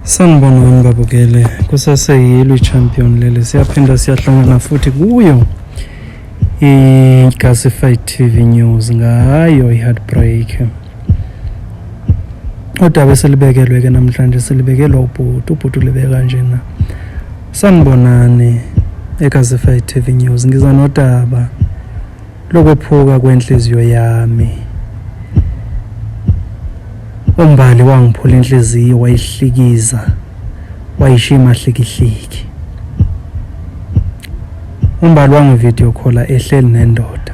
sanibona wami babukele kusaseyilo i-champion leli siyaphinda siyahlangana futhi kuyo i-gasify tv news ngayo i-heartbreak Udaba esilibekelwe ke namhlanje silibekelwa ubhuti, ubhuti ulibeke kanjena. Sanibonani eKazify TV News. Ngiza nodaba lokwephuka kwenhliziyo yami. Umbali wangiphula inhliziyo wayihlikiza wayishima hlikihliki. Umbali wangivideo call ehleli nendoda.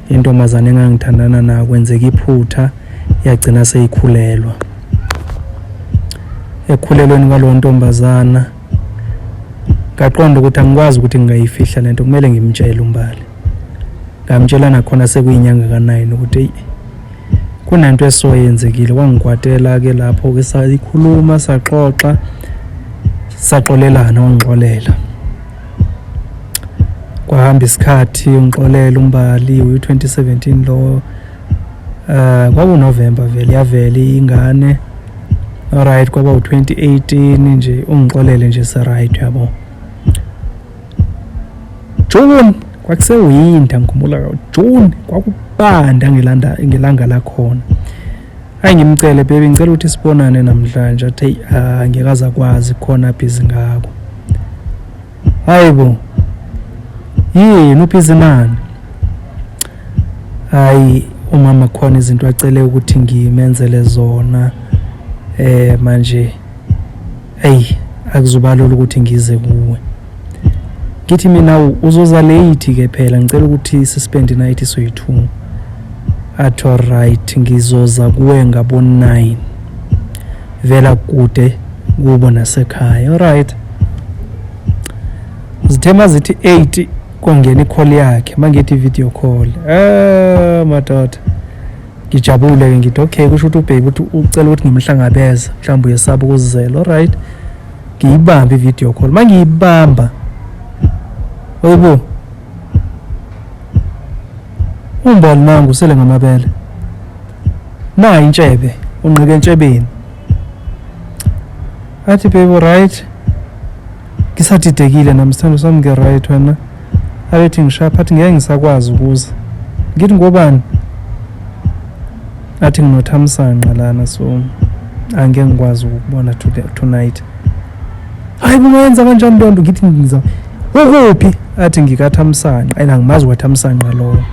Intombazane engangithandana nayo kwenzeka iphutha yagcina seyikhulelwa. Ekukhulelweni kwaleyo ntombazana ngaqonda ukuthi angikwazi ukuthi ngingayifihla lento kumele ngimtshele umbali. Ngamtshela nakhona sekuyinyanga ka-9 ukuthi eyi kunento esoyenzekile wangikwatela ke lapho ke sayikhuluma saxoxa saxolelana wangixolela. kwahamba isikhathi ungixolele umbali uyi-2017 lowo uh, eh, kwakunovemba vele yavele ingane alright kwaba u-2018 nje ungixolele nje seright yabo june kwakusewinda ngikhumbula june kwakubanda ngelanga lakhona Hayi ngimcele baby ngicela ukuthi sibonane namhlanje athi hey ah, ngeke azakwazi khona busy ngako. Hayibo. Yini ubhizi nani? Hayi umama khona izinto acele ukuthi ngimenzele zona eh manje Eyi akuzubalula ukuthi ngize kuwe. Ngithi mina uzoza late ke phela ngicela ukuthi sispend night soyi-2. Athi alright ngizoza kuwe ngabo 9. Vela kude kubo nasekhaya. Alright. Zithema zithi 8 kwangena i-call yakhe mangithi video call. Eh madoda. ngijabule ke ngithi okay kusho ukuthi ubheki ukuthi ucela ukuthi ngimhlangabeze mhlawumbe uyesaba ukuzizela alright ngiyibambe i-video call uma ngiyibamba oyibo umbali nangu usele ngamabele nayi intshebe unqike entshebeni athi baby right ngisadidekile nami sithando sami ngiright wena abethi ngishapha athi ngeke ngisakwazi ukuza ngithi ngobani athi nginothamsanqa lana so angeke ngikwazi ukubona tonight hayi kungenza kanjani loo nto ngithi ngiza ukuphi athi ngikathamsanqa and angimazi kwathamsanqa lowo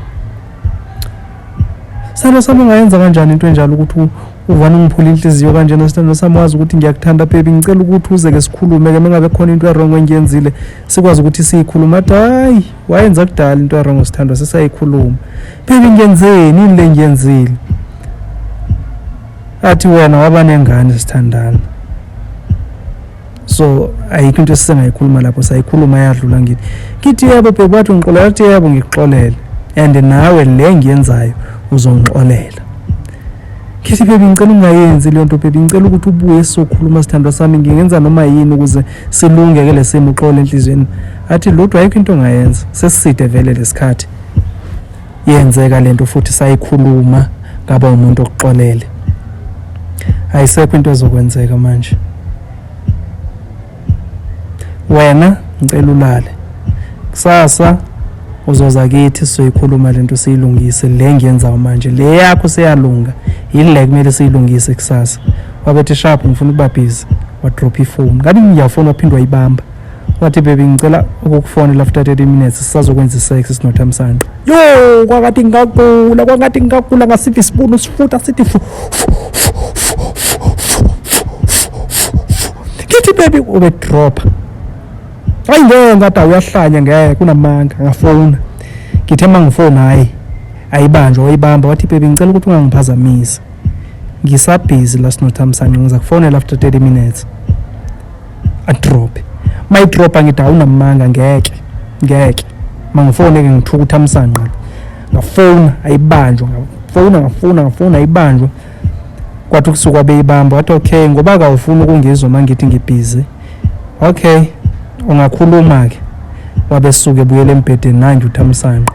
Salo sami ungayenza kanjani into enjalo ukuthi uvana ungiphula inhliziyo kanjena sithando sami wazi ukuthi ngiyakuthanda baby ngicela ukuthi uze ke sikhulume ke mengabe khona into erong engiyenzile sikwazi ukuthi siyikhuluma athi hayi wayenza kudala into erong sithando sisayikhuluma baby ngiyenzeni yini le ngiyenzile athi wena waba nengane sithandana so ayikho into esisengayikhuluma lapho sayikhuluma yadlula ngithi ngithi yebo bheki wathi ungixolela athi yebo ngikuxolele and nawe le ngiyenzayo uzongixolela ngithi bheki ngicela ungayenzi leyo nto bheki ngicela ukuthi ubuye sizokhuluma sithandwa sami ngingenza noma yini ukuze silunge ke lesimo uxole enhliziyweni athi lodwa ayikho into ongayenza sesiside vele lesikhathi yenzeka lento futhi sayikhuluma ngaba umuntu okuxolele ayisekho into ezokwenzeka manje wena ngicela ulale kusasa uzoza kithi sizoyikhuluma lento siyilungise le ngiyenzayo manje le yakho seyalunga yile kumele siyilungise kusasa wabethi sharp ngifuna ukuba busy wadrop ifoni ngabe ngiyafona waphindwa ibamba wathi baby ngicela ukukufonela after 30 minutes sisazokwenza isex sinothamsanqa yo kwakathi ngigagula kwangathi ngigagula ngasiphi isibunu sifuta sithi fu ngithi baby ube drop ayi ngeke ngathi uyahlanya ngeke kunamanga ngafona ngithe uma ngifona hayi ayibanjwa wayibamba wathi baby ngicela ukuthi ungangiphazamisi ngisabhizi la sinothamsanqa ngiza kufonela after 30 minutes adrobhe mayidrobha ngithi awunamanga ngeke ngeke mangifone ke ngithuka ukuthi amsanqa ngafona ayibanjwa ngafona ngafona ngafona ayibanjwa kwathi kusuka beyibamba wathi okay ngoba akawufuni ukungizwa uma ngithi ngibhizi okay ungakhuluma-ke wabesuke ebuyela embhedeni nanje uthamsanqa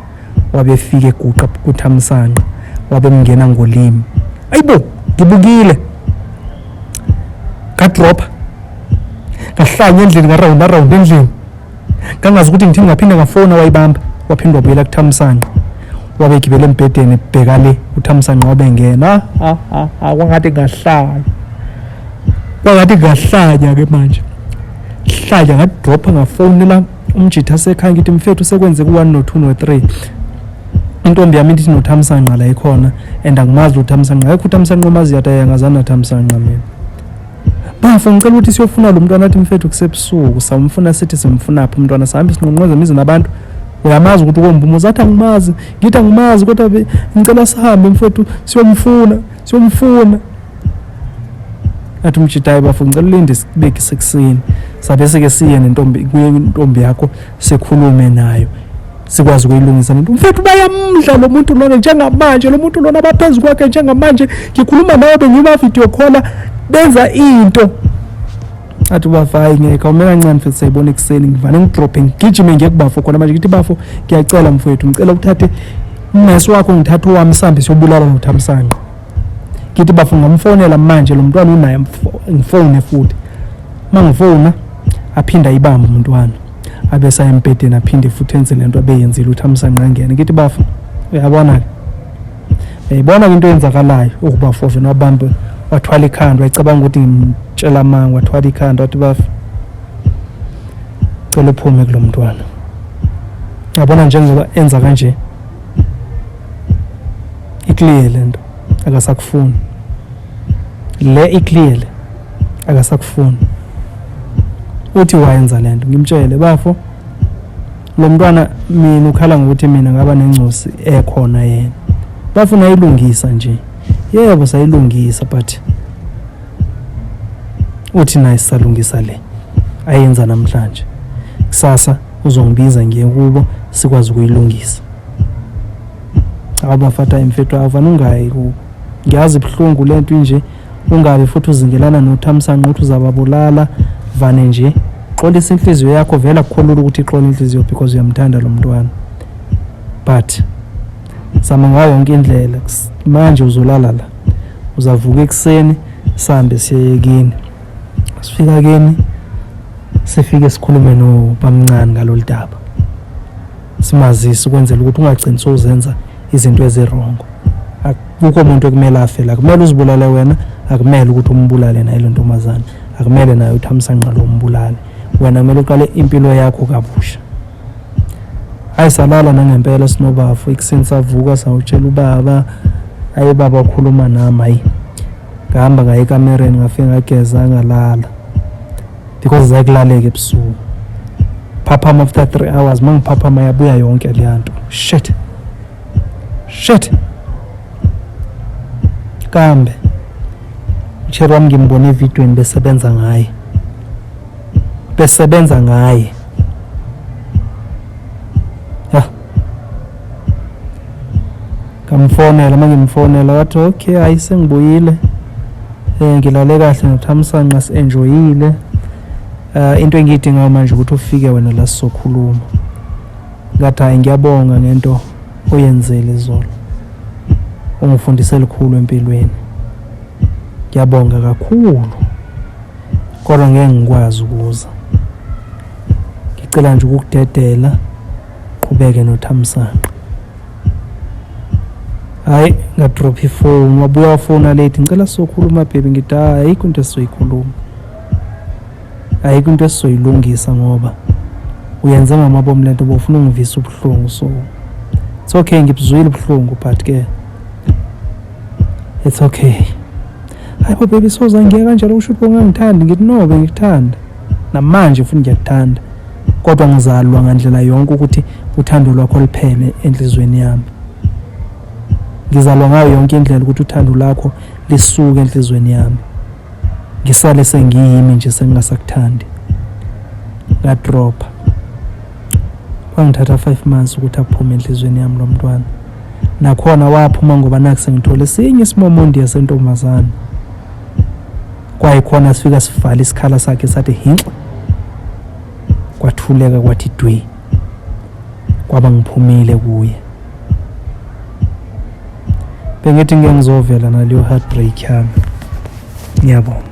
wabefika eguqa kuthamsanqa wabemngena ngolimi ayibo ngibukile ngadropha ngahlanya endlini ngarawunda rawunda endlini ngangazi ukuthi ngithini ngaphinde ngafona wayibamba waphinde wabuyela kuthamsanqa wabe egibele embhedeni ebheka le uthamsanqa wabe engena ah, ah, ah, kwangathi ngahlanya kwangathi ngahlanya ke manje hlanya ngadropha ngafonela umjitha sekhaya ngithi mfethu sekwenze ku-1 no-2 no-3 intombi yami ithi nothamsanqa la ikhona and angimazi lo thamsanqa ayikho uthamsanqa omazi yata yangazani nathamsanqa mina bafo ngicela ukuthi siyofuna lo mntwana athi mfethu kusebusuku samfuna sithi simfunaphi umntwana sihambe sinqonqoza imizi nabantu uyamazi ukuthi ukomba umuzi athi angimazi ngithi angimazi kodwa ngicela sihambe mfethu siyomfuna siyomfuna athi umjita hayi bafo ngicela ulinde isibeke sekuseni sabe sike siye nentombi kuye intombi yakho sikhulume nayo sikwazi ukuyilungisa lento mfethu bayamdla lo muntu lona njengamanje lo muntu lona baphezu kwakhe njengamanje ngikhuluma nawe bengimavidiyo khola benza into athi ubafo hayi ngeke awume kancane mfethu sayibona ekuseni ngivane ngidrophe ngigijime ngiye kubafo khona manje ngithi bafo ngiyacela mfowethu ngicela uthathe umesi wakho ngithathe owami sihambe siyobulala nothamsanqa ngithi bafo ngamfonela manje lo mntwana unaye ngifone futhi uma ngifona aphinde ayibambe umntwana abe sayembhedeni aphinde futhi enze le nto abeyenzile ukuthi amsangqangene ngithi bafo uyabona-ke uyayibona-ke into eyenzakalayo ukubafove nobambe wathwala ikhanda wayicabanga ukuthi ngimtshela amanga wathwala ikhanda wathi bafo cela uphume kulo mntwana yabona njengoba enza kanje ikliye le nto akasakufuni le ikliye le akasakufuni uthi wayenza le nto ngimtshele bafo lo mntwana mina ukhala ngokuthi mina ngaba nengcosi ekhona yena bafuna ayilungisa nje yebo sayilungisa but uthi naye sisalungisa le ayenza namhlanje kusasa uzongibiza ngiye kubo sikwazi ukuyilungisa awu bafata imfethu avana ungayi kubo ngiyazi ibuhlungu le nto inje ungabi futhi uzingelana nothamsanqa ukuthi uzababulala vane nje xolisa inhliziyo yakho vela kukholula ukuthi ixola inhliziyo because uyamthanda lo mntwana but zama ngayo yonke indlela manje uzolala la uzavuka ekuseni sambe siyeyekini sifika kini sifike sikhulume nobamncane ngalolu daba simazise ukwenzela ukuthi ungagcini sowuzenza izinto ezirongo akukho muntu ekumele afele akumele uzibulale wena akumele ukuthi umbulale naye lo ntombazane akumele naye uthi amsanqalo umbulale wena kumele uqale impilo yakho kabusha hayi salala nangempela sinobafo ikuseni savuka sawutshela ubaba ayi baba ukhuluma nami hayi ngahamba ngaye ekamereni ngafike ngageza ngalala because zakulaleka ebusuku phaphama after three hours uma ngiphaphama yabuya yonke leya nto shit shit kambe usheri wami ngimbone evidweni besebenza ngaye besebenza ngaye ngamfonela uma ngimfonela wathi okay hayi sengibuyile um ngilale kahle ngothamsanqa si-enjoyile um into engiyidingayo manje ukuthi ufike wena la sizokhuluma ngathi hhayi ngiyabonga ngento oyenzele izolo ungifundise likhulu empilweni ngiyabonga kakhulu kodwa ngeke ngikwazi ukuza ngicela nje ukukudedela qhubeke nothamsanqa hayi ngadrop ifoni wabuya wafona late ngicela sizokhuluma bhebi ngithi hayi ayikho into esizoyikhuluma ayikho into esizoyilungisa ngoba uyenze ngamabomu lento bofuna ungivisa ubuhlungu so it's okay ngibuzwile ubuhlungu but ke it's okay hayi bo baby soza ngiya kanjalo usho ukuthi bongangithandi ngithi no bengikuthanda namanje futhi ngiyakuthanda kodwa ngizalwa ngandlela yonke ukuthi uthando lwakho liphele enhlizweni yami ngizalwa ngayo yonke indlela ukuthi uthando lakho lisuke enhlizweni yami ngisale sengiyimi nje sengingasakuthandi ngadropha kwangithatha five months ukuthi aphume enhlizweni yami lo mntwana nakhona waphuma ngoba naku sengithole esinye isimomondiya sentombazane kwayikhona sifika sivala isikhala sakhe sathi hinxa kwathuleka kwathi dwi kwaba ngiphumile kuye bengithi ngeke ngizovela naleyo heartbreak yami ngiyabonga